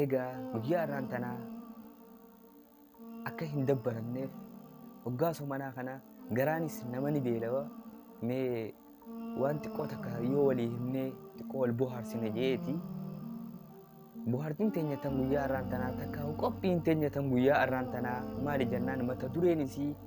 Eegaa guyyaa har'aan tanaa akka hin dabbaramneef hoggaa somanaa kana garaanis nama ni beelawa mee waan xiqqoo takka yoo walii himnee xiqqoo wal bohaarsine jeeti. Bohaartiin teenya tan guyyaa har'aan tanaa takka qophiin teenya tan guyyaa har'aan tanaa maali jennaan mata dureen isii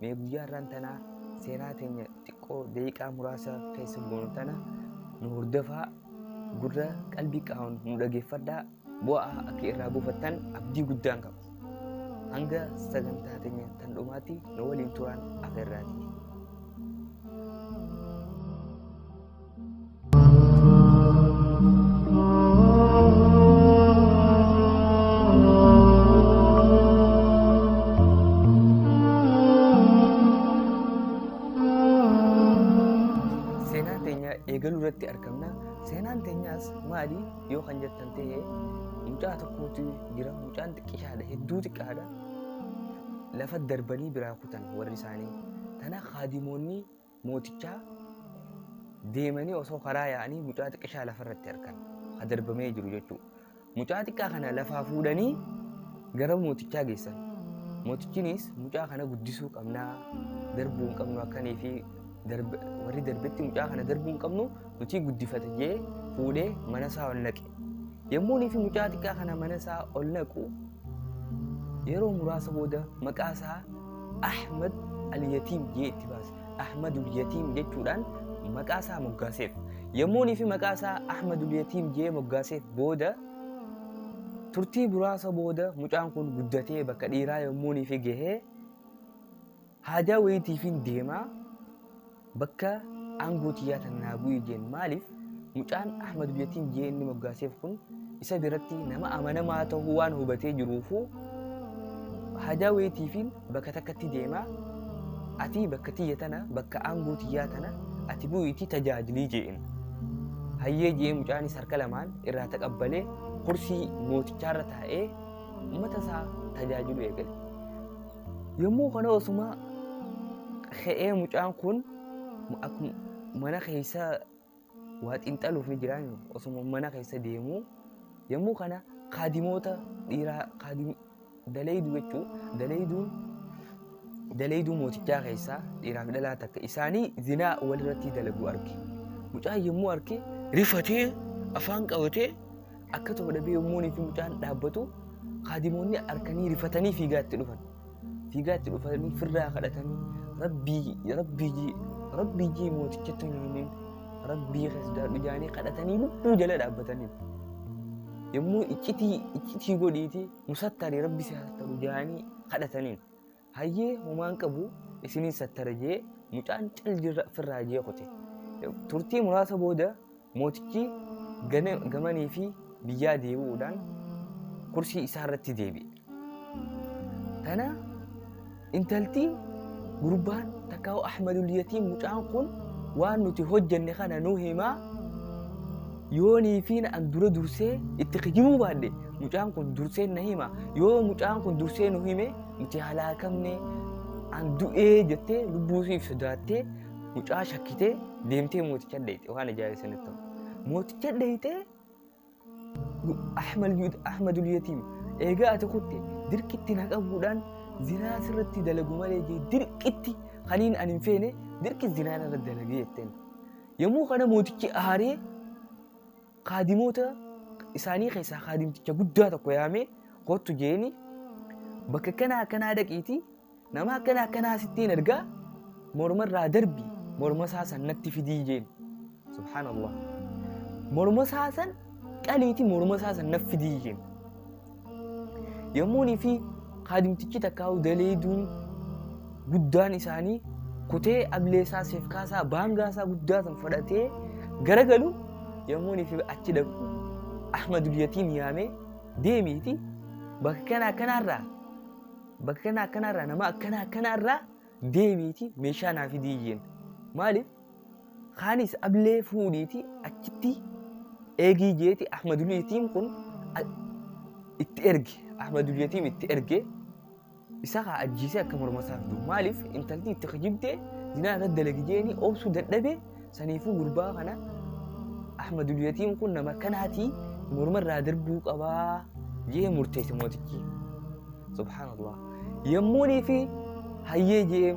Mee guyyaa irraan tanaa seenaa teenya xiqqoo daqiiqaa muraasa keessa goonu tana nu hordofaa gurra qalbii qaawun nu dhageeffadhaa bu'aa akka irraa buufattan abdii guddaan qaba. Hanga sagantaa teenya tan dhumaatti nu waliin turaan afeerraati. seenaa teenya eegaluu irratti argamna seenaan teenyaas maali yoo kan jettan ta'e mucaa tokkootu jira mucaan xiqqishaadha hedduu xiqqaadha lafa darbanii biraa kutan warri isaanii tana kaadimoonni mootichaa deemanii osoo karaa yaa'anii mucaa xiqqishaa lafarratti argan ha darbamee jiru jechuudha. Mucaa xiqqaa kana lafaa fuudhanii gara mootichaa geessan. Mootichinis mucaa kana guddisuu qabnaa darbuu hin qabnu akkanii fi warri darbetti mucaa kana darbuu hin qabnu nuti guddifate jee fuudhee mana isaa ol naqe. Yommuunii fi mucaa xiqqaa kana mana isaa ol naqu yeroo muraasa booda maqaa isaa Ahmad al-Yatiim jee itti baase. Ahmadul Yatiim jechuudhaan maqaa isaa moggaaseef. Yommuunii fi maqaa isaa Ahmadul Yatiim jee moggaaseef booda turtii muraasa booda mucaan kun guddatee bakka dhiiraa yommuunii fi gahee Haajaa woyiitiifiin deemaa bakka aangoo tiyyaa tan naa bu'ii jeen maaliif mucaan Ahmad Biyatiin jee inni moggaaseef kun isa biratti nama amanamaa ta'uu waan hubatee jiruufuu haajaa woyiitiifiin bakka takkatti deemaa ati bakka tiyya tana bakka aangoo tiyyaa tana ati bu'iitii tajaajilii jeen. Hayyee jee mucaanis harka lamaan irraa taqabbalee kursii mootichaarra taa'ee uummata isaa tajaajiluu eegale. Yommuu kana osuma ka'ee mucaan kun akkuma mana keessa waa xiinxaluuf ni jira osuma mana keessa deemu yommuu kana kaadimoota dhiiraa kaadim daleeyduu jechuun daleeyduun daleeyduu mootichaa keessaa dhiiraaf dhalaa takka isaanii zinaa walirratti dalaguu arge mucaan yommuu arge rifatee afaan qabatee Akka ta'u dhabee yommuunii fi mucaan dhaabbatu kaadimoonni harkanii rifatanii fiigaa itti dhufan. Fiigaa itti dhufanii firraa kadhatanii rabbii rabbii jii rabbii jii mootichatti hin himin rabbii keessadhaadhu jaanii kadhatanii lubbuu jala dhaabbatanii. Yommuu iccitii iccitii godhiiti musattaari rabbi si haastaru jaanii kadhataniin. Hayyee homaa hin qabu isiniin sattara jee mucaan cal jirra firraa jee kute. Turtii muraasa booda mootichi gana- gamanii fi biyyaa deebi'uudhaan kursii isaa irratti deebi'e. Tana intalti gurbaan takkaa Ahmadul Yatiim mucaan kun waan nuti hojjenne kana nu himaa yoonii fi an dura dursee itti kijibuu baadhe mucaan kun dursee na hima yoo mucaan kun dursee nu hime Nuti halaakamne an du'ee jettee lubbuu siif sodaattee mucaa shakkitee deemtee mooticha dheeyte waan ajaa'ibaa sanitti ta'u. Mooticha dheeyte Ahmadul Yatiim eegaa ati kutte dirqitti na qabuudhaan zinaa sirratti dalagu malee jee dirqitti kaniin an hin feene dirqi zinaa irratti dalagee jetteen. Yommuu kana mootichi aaree Kaadimoota isaanii keessaa kaadimticha guddaa tokko yaamee kottu jeeni bakka akkanaa akkanaa dhaqiiti nama akkana akkanaa sittiin ergaa mormarraa darbi mormasaa san natti fidii jeeni. Subhaanallah. Mormasaa san qaliiti mormasaa san natti fidii jeeni. Yommuunii fi kaadimtichi takkaa'u daleeduun guddaan isaanii kutee ableesaa seefkaasaa baangaasaa guddaa san fudhatee garagalu yommuunii fi achi dhaqu Ahmadul Yatiim yaamee deemiiti bakka kana akkanaarraa bakka kana akkanaarraa nama akkana akkanaarraa deemiiti meeshaa naa fidii jeen maaliif Kaanis ablee fuudhiiti achitti eegii jeeti Ahmadul Yatiim kun itti erge. Ahmadul Yatiim itti erge. Isa kaa ajjiisee akka morma isaaf du'u. Maaliif intalti itti kijibdee zinaa irratti dalagi jeeni obsuu dadhabee saniifuu gurbaa kana Ahmadul Yatiim kun nama kanaatii morma irraa darbuu qabaa jee murteesse mootichi. Subhaanallah. Yemmuunii fi hayyee jee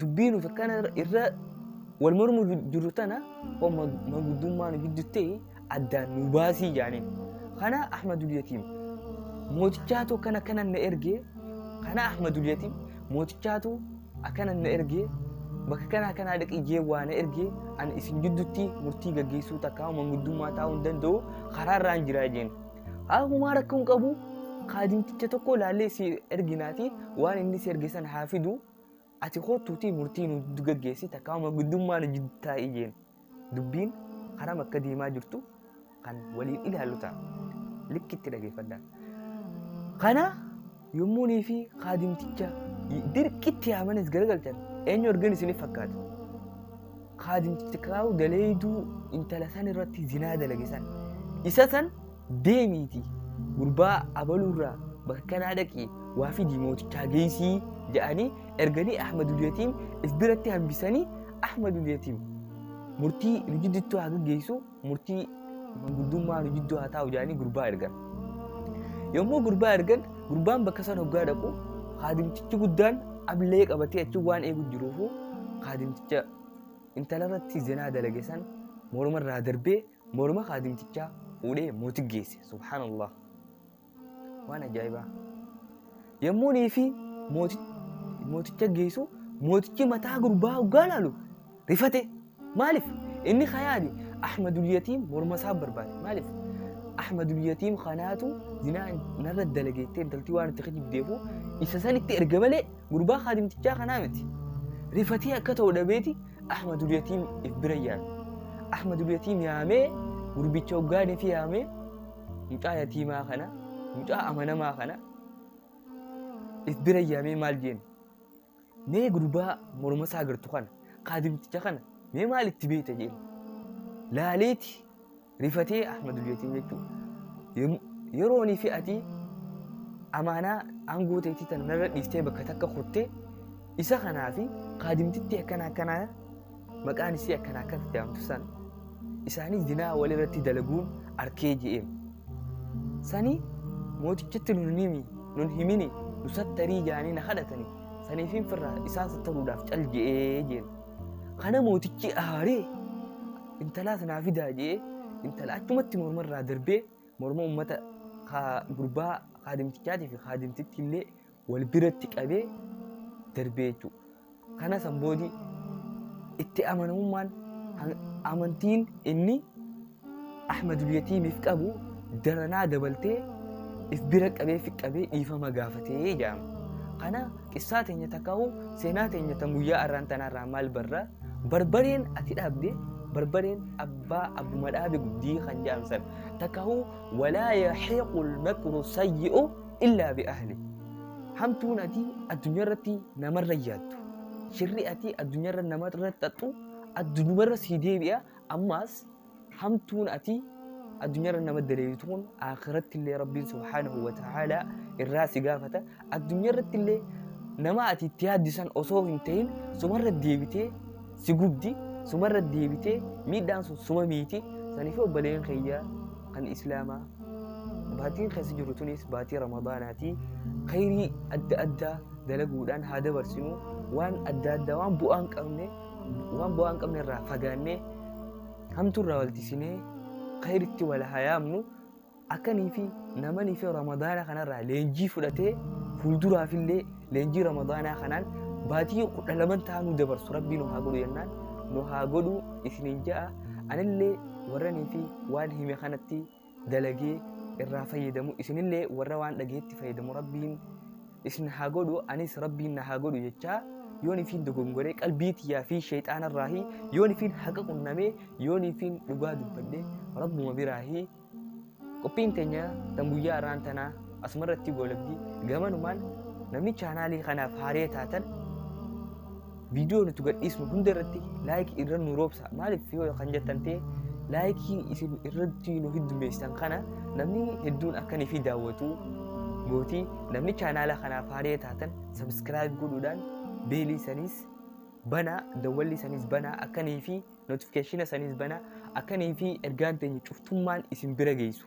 dubbii nuuf akkana irra wal mormu jiru tana homma manguddummaa nu gidduutti addaan nu baasii jaaniin. Kana Ahmadul Yatiim mootichaatu akkana akkana na ergee kana Ahmadul Yatiim mootichaatu akkana na ergee bakka kana akkanaa dhaqi jee waa na ergee ani isin gidduutti murtii gaggeessuu takkaa manguddummaa taa'uu hin danda'u karaa irraan jiraa jeen. Haakumaa rakkoon qabu kaadimticha tokko laallee si erginaati waan inni si erge sana haa fidu. ati koottuutii murtii nu giddu gaggeessi takkaawuma guddummaa nu jiddu taa'ii jeen dubbiin haram akka deemaa jirtu kan waliin ilaallu ta'a likki itti dhageeffadha kana yommuunii fi kaadimticha dirqitti yaamanis garagalchan eenyu argan isiniif fakkaata kaadimticha kaa'u daleeyduu intala san irratti zinaa dalage san isa san Deemiitii gurbaa abaluurraa bakka kanaa dhaqii waa fidii mootichaa geessii jedhanii erganii Ahmadul Yatiim if biratti hambisanii Ahmadul Yatiim murtii rijidditti haa gaggeessu murtii manguddummaa rijiddoo haa taa'u jedhanii gurbaa ergan. Yommuu gurbaa ergan gurbaan bakka sana hoggaa dhaqu kaadimtichi guddaan ablee qabatee achi waan eegu jiruufu kaadimticha intalarratti zinaa dalage san mormarraa darbee Morma kaadimtichaa fuudhee mootitti geesse. Subhaanallah. Waan ajaa'ibaa. Yommuu nii fi mooticha geessu mootichi mataa gurbaa hoggaa laalu rifate. Maaliif? Inni kayaani Ahmadul Yatiim morma isaa barbaade. Maaliif? Ahmadul Yatiim kanaatu zinaa narra dalageettee intaltii waan itti kijibdeefu isa sanitti erga malee gurbaa kaadimtichaa kanaa miti. Rifatee akka ta'u dhabeeti Ahmadul Yatiim if bira yaame. Ahmadul Yatiim yaamee gurbicha hoggaan ifi yaamee mucaa yatiimaa kana mucaa amanamaa kana if bira yaamee maal jeen mee gurbaa morma isaa agartu kana kaadimticha kana mee maal itti beeyta jeen laaleeti Rifatee Ahmadul Yatim jechuun yem- yeroo ani fi ati amaanaa aangoo ta'etti tan narra dhiiftee bakka takka kutte isa kanaa fi kaadimtitti akkana akkanaa maqaan isii akkana akkana itti aamtu san isaanii dinaa walirratti dalaguun arkee je'eem. Sani mootichatti nun himi nun himini nu sattarii jaanii na kadhatani saniifin firraa isaan sattaruudhaaf cal je'ee jeen. Kana mootichi aaree intalaas naa fidaa jee intala achumatti morma irraa darbee morma ummata kaa- gurbaa kaadimtichaatii fi kaadimtitti illee wal biratti qabee darbee jechuudha. Kana san boodi itti amanamummaan han- amantiin inni Ahmadul Yatiimiif qabu daranaa dabaltee if bira qabee fi qabee dhiifama gaafatee jedhama. Kana Qissaa teenya takkaa'u seenaa teenya tan guyyaa arraan tanaarraa maal barra? Barbareen ati dhaabde barbareen abbaa abbuma dhaabe guddii kan jedhamu san takkaa'u walaa yahiiqul makru sayyi'u illaa bi ahli. Hamtuun ati addunyaa irratti namarra yaaddu. Shirri ati addunyaa irra namarra xaxxu addunyaa irra sii deebi'a ammaas hamtuun ati addunyaarra nama daleeytu kun akhiratti illee rabbiin subhaanahu wa ta'aalaa irraa si gaafata addunyaarratti illee nama ati itti yaaddisan osoo hin ta'in sumarra deebitee si gubdi sumarra deebitee miidhaan sun suma miiti saniif obboleen kiyya kan islaamaa baatiin keessa jiru tunis baatii ramadaanaati khayrii adda addaa dalaguudhaan haa dabarsinu waan adda addaa waan bu'aan qabne waan bu'aa hin qabne irraa fagaannee hamtuu irraa waltisinee khayritti wal hayaamnu akkanii fi namanii fi ramadaana kanarraa leenjii fudhatee fuulduraaf illee leenjii ramadaanaa kanaan baatii kudha laman ta'aa nu dabarsu rabbii nu haa godhu jennaan nu haa godhu isiniin ja'a anillee warranii fi waan hime kanatti dalagee irraa fayyadamu isinillee warra waan dhageetti fayyadamu rabbiin isin haa godhu anis rabbiin na haa godhu jechaa yoon ifiin dogongoree qalbii tiyyaa fi sheexaanarraahi yoon ifiin haqa qunnamee yoon ifiin dhugaa dubbadhe rabbuma biraahi qophiin teenya tan guyyaa irraan tanaa asumarratti goolabdi gamanumaan namni chaanaalii kanaaf haaree taatan viidiyoo nuti gadhiisnu hunda irratti laayikii irra nu roobsa maaliif yoo kan jettan ta'e laayikii isin irratti nu heddummeessitan kana namni hedduun akka nuuf daawwatu gootii namni chaanaala kanaaf haaree taatan sabiskiraayib godhuudhaan beelii saniis banaa dawwalli saniis banaa akka nuuf notifikeeshina saniis banaa akka nuuf ergaan teenya cuftummaan isin bira geessu